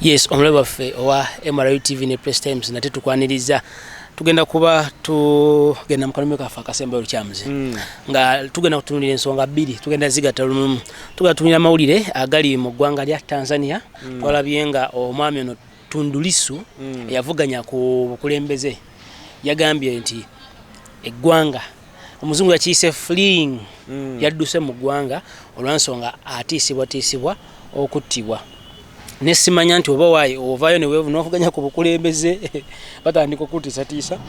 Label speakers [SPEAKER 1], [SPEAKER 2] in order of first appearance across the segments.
[SPEAKER 1] yes omulabe waffe owa mru tv ne press times nate tukwaniriza tugenda kuba tugenda mukalumi kaffe akasembayo lukyamuzi mm. nga tugenda kutunulira ensonga bbiri tugenda zigata lumumu tugenda tunulira amawulire agali mu ggwanga lya tanzania mm. twalabye nga omwami ono Tundu Lissu mm. eyavuganya ku bukulembeze yagambye nti eggwanga omuzungu yakiyise fling mm. yadduse mu ggwanga olwansonga atiisibwatiisibwa okuttibwa nesimanya nti oba wayi ovaayo newevunavuganya ku bukulembeze batandika okutiisatiisa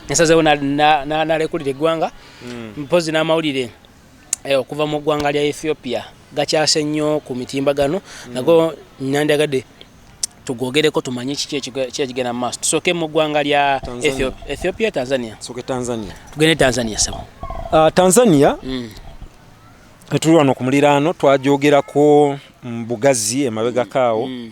[SPEAKER 1] nasazewo nalekulira eggwanga mm. mpozi n'amawulire na eh, okuva mu ggwanga lya ethiopia gakyase nnyo ku mitimbagano mm. nago nandyagadde tugwogereko tumanye kikikigenda mu maaso tusooke mu ggwanga lya ethiopia tanzania tugende tanzania sabo ah, tanzania
[SPEAKER 2] mm. etuli wano ku muliraano twajogerako mu bugazi emabegakaawo mm.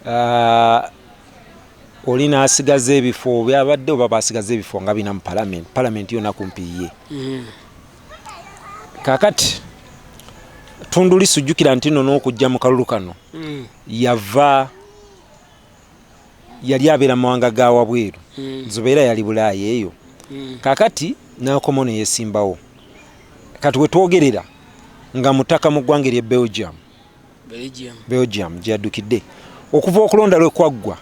[SPEAKER 2] Uh, oli nasigaza ebifo byabadde oba basigaza ebifo nga bina mu palamenti palamenti yona kumpi ye mm. kakati tunduli sujjukira nti no n'okujja mu kalulu kano mm. yava yali abeera mu mawanga ga wabweru mm. zubeera yali bulaaya eyo kakati nakomo neyesimbawo kati wetwogerera nga mutaka mu ggwanga erye belgium belgium gyeyaddukidde okuva okulonda lwe kwaggwa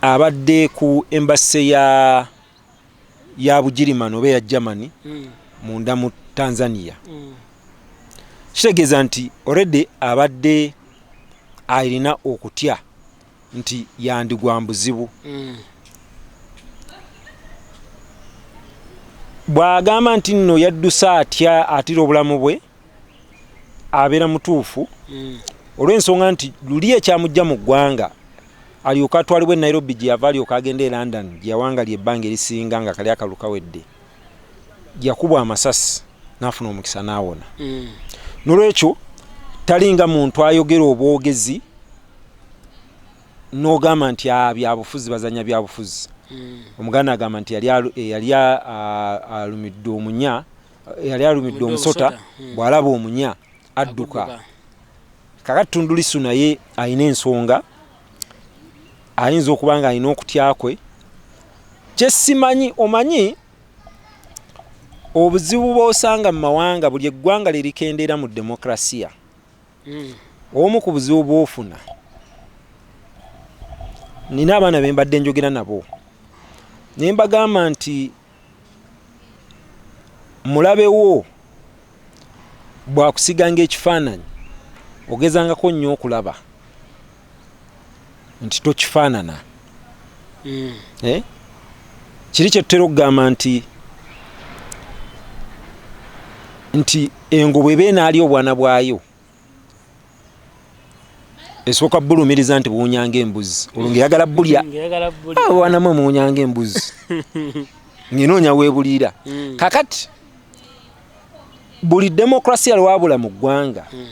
[SPEAKER 2] abadde ku embase ya ya bugirimani oba eya germany hmm. munda mu tanzania hmm. kitegeeza nti oredi abadde alina okutya nti yandigwa mbuzibu mm. bwagamba nti nno yadduse atya atira obulamu bwe abeera mutuufu mm. olw'ensonga nti luli ekyamujja mu ggwanga alyoka atwalibwa enairobi gye yava alyoka agenda e london gye yawangali ebbanga erisinga nga kali akalu kawedde yakubwa amasasi n'afuna omukisa n'awona mm. nolwekyo talinga muntu ayogera obwogezi nogamba nti ah, byabufuzi bazanya byabufuzi hmm. omuganda agamba nti yali alumidde omunya yali alumidde omusota hmm. bwalaba omunya adduka kakati tundulisu naye alina ensonga ayinza okuba nga alina okutya kwe kyesimanyi omanyi obuzibu bwosanga mu mawanga buli eggwanga lyerikendeera mu demokrasiya hmm. obumu ku buzibu bwofuna nina abaana be mbadde njogera nabo ne mbagamba nti mulabewo bwakusiganga ekifaananyi ogezangako nnyo okulaba nti tokifaanana mm. eh? kiri kyetutera okugamba nti nti engo bweba enaali obwana bwayo esooka bulumiriza nti buwunyanga embuzi olwo ngaeyagala bulya ah, obwana mwe muwunyanga embuzi ngenoonya webuliira mm. kakati buli demokrasiya lwabula mu ggwanga mm.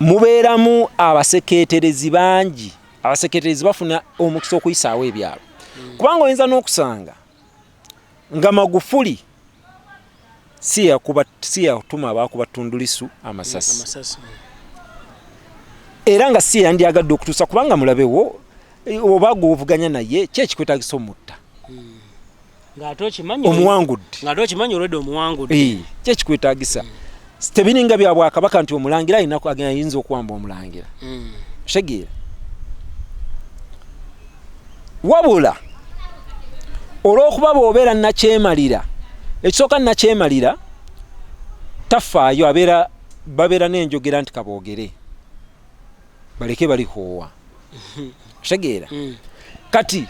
[SPEAKER 2] mubeeramu abaseketerezi bangi abaseketerezi bafuna omukisa okuyisaawo ebyalo hmm. kubanga oyinza n'okusanga nga magufuli si yakuba si yatuma abakuba tundulisu amasasi era nga si yandyagadde okutuusa kubanga mulabewo oba gwovuganya naye kyekikwetagisa omutta ng'ate okimanyi omuwangudde ng'ate okimanyi olwedde omuwangudde eh, kyekikwetagisa mm. tebiringa bya bwakabaka nti omulangira alina ayinza okuwamba omulangira mm. otegeera wabula olw'okuba bw'obeera nakyemalira ekisooka nakyemalira tafaayo abeera babeera n'enjogera nti kaboogere baleke balikoowa kitegeera mm. kati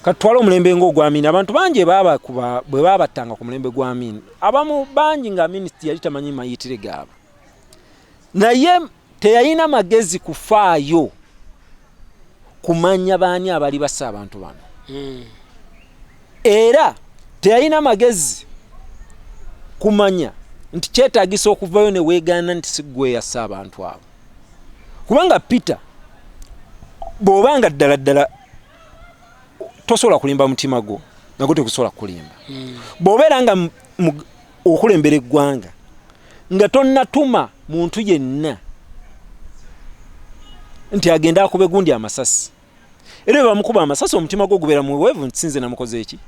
[SPEAKER 2] katutwala omulembe ngaogwa amini abantu bangi bwe babattanga ku mulembe gwa amini abamu bangi nga amini yali tamanyi mayitire gaabwe naye teyalina magezi kufaayo kumanya baani abali basa abantu bano hmm. era teyalina magezi kumanya nti kyetagisa okuvayo newegaana nti sigweyasa abantu abo kubanga peter bwoba nga ddala ddala tosobola kulimba mutima gwo nago tegusobola kukulimba hmm. bwobeera nga okulembera eggwanga nga tonnatuma muntu yenna nti agende akube gundi amasasi era ebamukuba amasasi omutima gwo gubeera muweevu nti sinze namukoze eki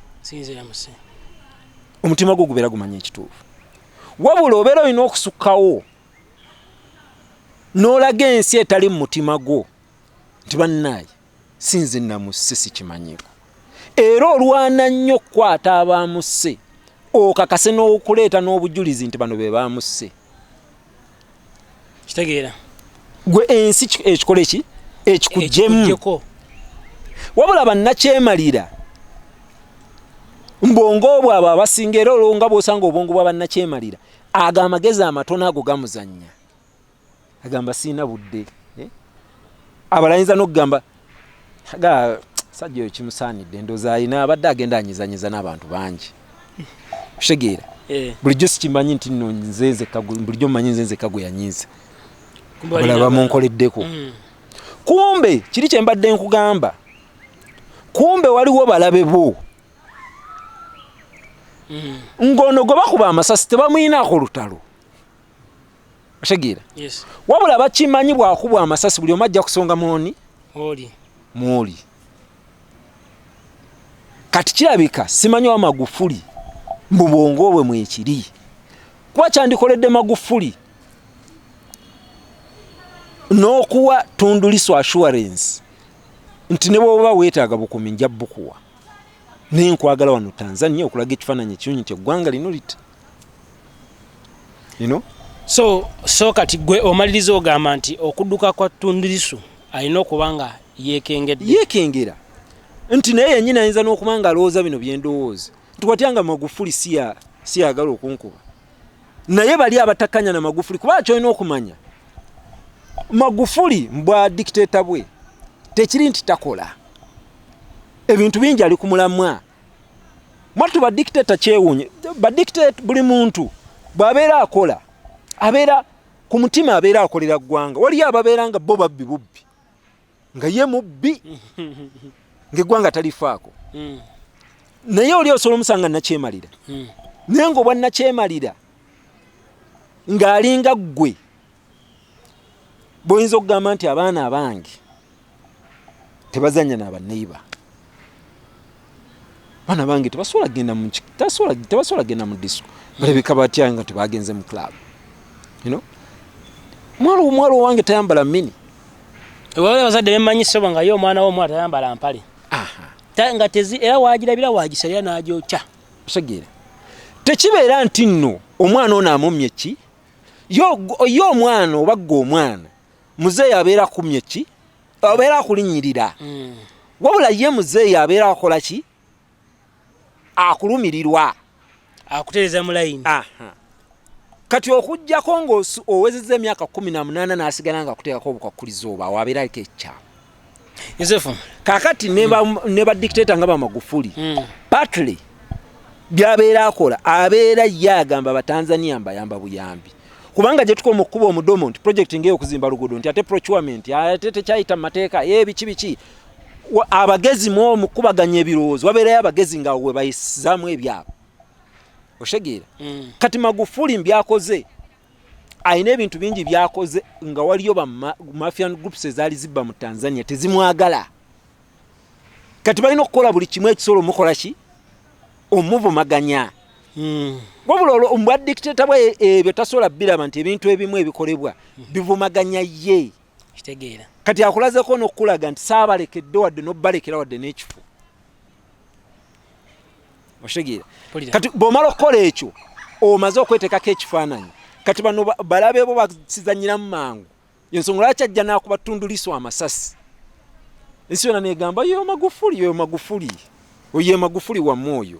[SPEAKER 2] omutima gwo gubeera gumanya ekituufu wabula obeera olina okusukkawo n'olaga ensi etali mu mutima gwo nti bannaaye sinze namusse sikimanyiiko era olwana nnyo okukwata abaamusse okakase n'okuleeta n'obujulizi nti bano be baamusse
[SPEAKER 1] kitegeera gwe
[SPEAKER 2] ensi ekikole ki ekikugyemu wabula bannakyemalira mbwongo obwo abo abasinga era olwo nga bwosanga obwongo bwa bannakyemalira ago amagezi amatono ago gamuzannya agamba siina budde eh? abalayinza nokugamba aga sajja oyo kimusaanidde ndoza alina abadde agenda anyizanyiza n'abantu bangi kutegeera eh. bulijjo sikimanyi nti no nzenzeka bulijjo manyi nzenzeka gwe yanyiiza bulaba munkoleddeko mm. kumbe kiri kye mbadde nkugamba kumbe waliwo balabe bo mm. ng'ono gwe bakuba amasasi tebamuyinaako lutalo otegeera yes. wabula bakimanyi bwakubwa amasasi buli omu ajja kusonga mwoni mwoli kati kirabika simanyi wa magufuli mbu bwongo bwe mwekiri kuba kyandikoledde magufuli n'okuwa tunduliso assurance nti ne bwoba weetaaga bukumi nja bukuwa naye nkwagala wano tanzania okulaga ekifaananyi ekiunyi nti eggwanga lino you know?
[SPEAKER 1] so so kati gwe omaliriza ogamba nti okuduka kwa tundirisu alina okuba nga yekengedde yekengera
[SPEAKER 2] nti naye yenyini ayinza n'okuba nga alowooza bino byendowooza nti watya nga magufuli siyagala okunkuba naye bali abatakanya na magufuli kuba kyolina okumanya magufuli mbwa dikiteta bwe tekiri nti takola ebintu bingi ali ku mulamwa mwattu ba dictator kyewunye ba dictator buli muntu bwabeera akola abeera ku mutima abeera akolera ggwanga waliyo ababeera nga bo babbi bubbi nga ye mubbi ngaeggwanga talifaako hmm. naye oli osobola omusanga nakyemalira hmm. naye nga obwa nakyemalira ng'alinga ggwe boyinza okugamba nti abaana abange tebazanya nabaneiba abaana bange tebasobola kugenda tebasobola kugenda mu disco balabika batya nga tebagenze mu club mwalo omwalo owange tayambala mini ewabala
[SPEAKER 1] abazadde bemanyi sobo nga ye omwana womwana tayambala mpale nga tezi era wagirabira wagisalira nagyokya osegeera
[SPEAKER 2] tekibeera nti nno omwana ono amumye ki ye omwana oba gwe omwana muzeeyi abeera akumye ki abeera akulinyirira hmm. wabula ye muzeeyi abeera akola ki akulumirirwa akutereza
[SPEAKER 1] mulayini
[SPEAKER 2] kati okujjako ngaowezeza emyaka kumi namunaana nasigala nga akuteekako obukwakkulizo oba wabeera aliko ekyama Yosefu
[SPEAKER 1] kakati ne
[SPEAKER 2] ba mm. ne ba dictator nga ba magufuli mm. partly byabeera akola abeera ye agamba abatanzania mbayamba buyambi kubanga gye tukoma okukuba omudomo nti project ngeyo okuzimba luguudo nti ate procurement ate tekyayita mu mateeka ebiki eh, biki abagezi mu omukubaganya ebirowoozo wabeerayo abagezi nga we bayisizaamu ebyabo oshegeera mm. kati magufuli mbyakoze alina ebintu bingi byakoze nga waliyo bamafian groups ezaali zibba mu tanzania tezimwagala kati balina okukola buli kimu ekisobola omukola ki omuvumaganya hmm. wabula olwo mbwa dictator bwe ebyo tasobola biraba nti ebintu ebimu ebikolebwa hmm. bivumaganya ye kitegeera
[SPEAKER 1] kati akulazeko
[SPEAKER 2] nokukulaga nti saabalekedde wadde nobalekera wadde n'ekifo oshegera kati bwomala okukola ekyo omaze okwetekako ekifaananyi kati bano balabe bo bakizanyiramu mangu yensonga lwaki ajja nakuba tunduliso amasasi ensi yona negamba yo magufuli yo magufuli oye magufuli wamu oyo